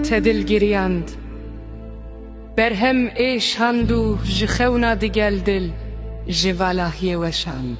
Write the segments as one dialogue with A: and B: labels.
A: Te dil giriyand. Berhem ê şand û ji xewna digel dil ji valahiyê weşand.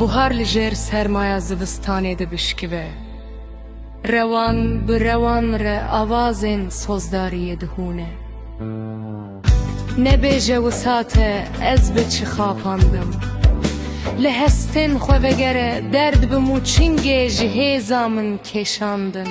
A: Buhar li jêr sermaya zivistanê dibişkive. Rewan bi rewan re awazên sozdariyê dihûne. Nebêje wisa te ez bi çi xapandim. Li hestên xwe vegere derd bim û çingê ji hêza min kêşandin.